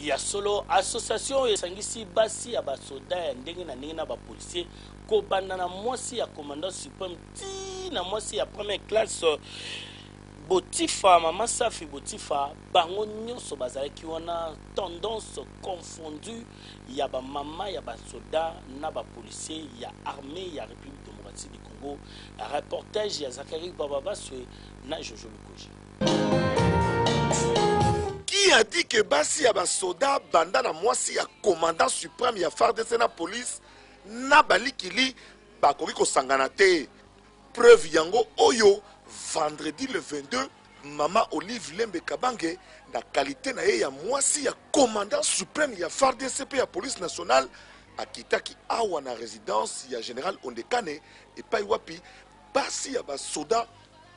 Ya solo, association oyo esangisi basi ya ba soda ya ndenge na ndenge na ba policiers, kobanda na mwasi ya commandant supreme ti na mwasi ya première classe. Botifa, mama Safi Botifa, bango nionso bazalaki wana, tendance confondue ya ba mama ya ba soda na ba policiers ya armee ya Republique democratique du Congo. Reportage ya Zacharie Gbababaswe na Jojo Lukoji. qui a dit que basi ya basoda banda na mwasi ya commandant supreme ya fardc na police na balikili bakoki kosangana te preuve yango oyo vendredi le 22 mama olive lembe kabange na kalite na ye ya mwasi ya commandant supreme ya fardc mpe ya police nationale akitaki awa na residence ya general ondekane epai wapi Basi ya ba soda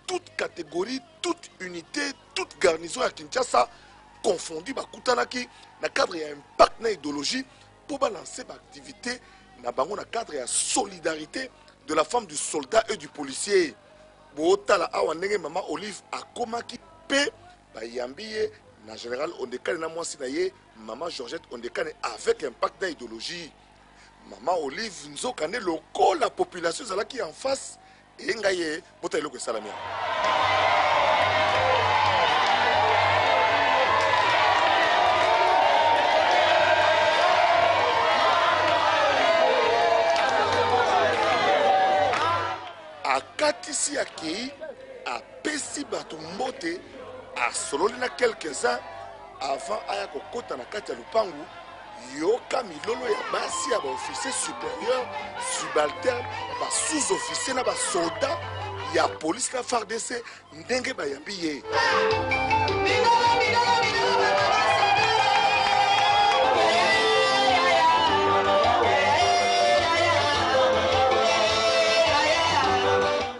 toute categorie, toute unité, toute garnison à Kinshasa confondu bakutanaki na cadre ya impact na idéologie mpo balancer baactivité na bango na cadre ya solidarité de la femme du soldat et du policier bootala awa ndenge mama olive akomaki mpe bayambi ye na général ondekane na mwasi na ye mama georgette ondekane avec impact na idéologie Maman Olive nzoka nde lokola population ezalaki en face eye ngai ye bota eloko esalami yango. akatisi akei apesi bato mbote asololi na quelques-uns avant aya kokota na kati ya lopangu yoka milolo ya basi ya baofficier supérieur subalterne ba sous officier na basoda ya polisi na fardc ndenge bayambi ye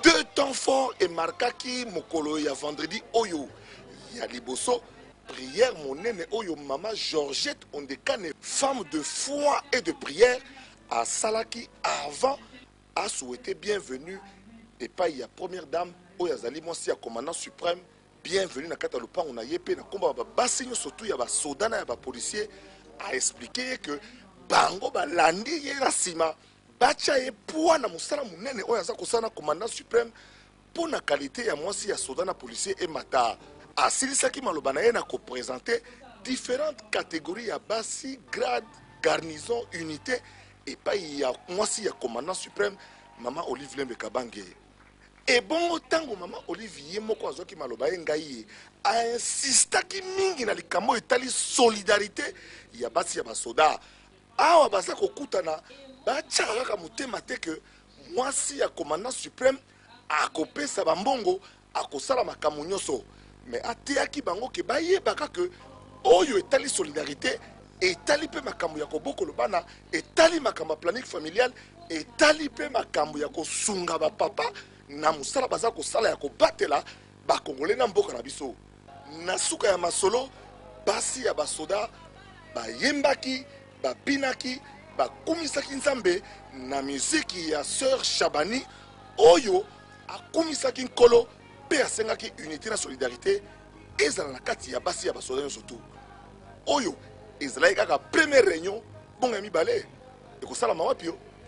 deux temps fort emarkaki mokolo ya vendredi oyo ya liboso Prière monene oyo mama Georgette Ondekane, femme de foi et de prière, asalaki avant a souhaiter bienvenue epayi ya première dame oyo azali mwasi ya commandant supreme bienvenue na kati ya lopango na ye mpe na nkombo ya babasi nyonso tu ya basoda na ya bapolisier a explike ye que bango balandi ye na nsima batya ye poids na mosala monene oyo aza kosala na commandant supreme Mpo na qualite ya mwasi ya soda na policier emata. Asilisaki maloba na ye na ko presenter differentes categories ya basi, grades, garnisons, unites epayi ya mwasi ya commandant supreme mama Olive Lembe Kabange. Ebongo tango mama Olive ye moko azwaki maloba ye ngai ye, a insistaki mingi na likambo oyo etali solidarite ya basi ya ba soda. Awa baza kokutana, batyaka kaka motema te que mwasi ya commandant supreme, Akopesa ba mbongo, akosala makambo nyoso mais ateyaki bango ke bayebaka ke oyo etali solidarite etali pe makambo ya kobokolo bana, etali makambo ya planning familial, etali pe makambo ya kosunga ba papa na mosala baza kosala ya kobatela Ba congolais na mboka na biso. Na suka ya masolo, basi ya basoda bayembaki, babinaki, bakumisaki Nzambe na miziki ya Soeur Shabani oyo akumisaki Nkolo mpe asengaki unite na solidarite ezala na kati ya basi ya basoda nyonso tu. Oyo ezalaki kaka première reunion, bongo ya mibale ekosalama wapi?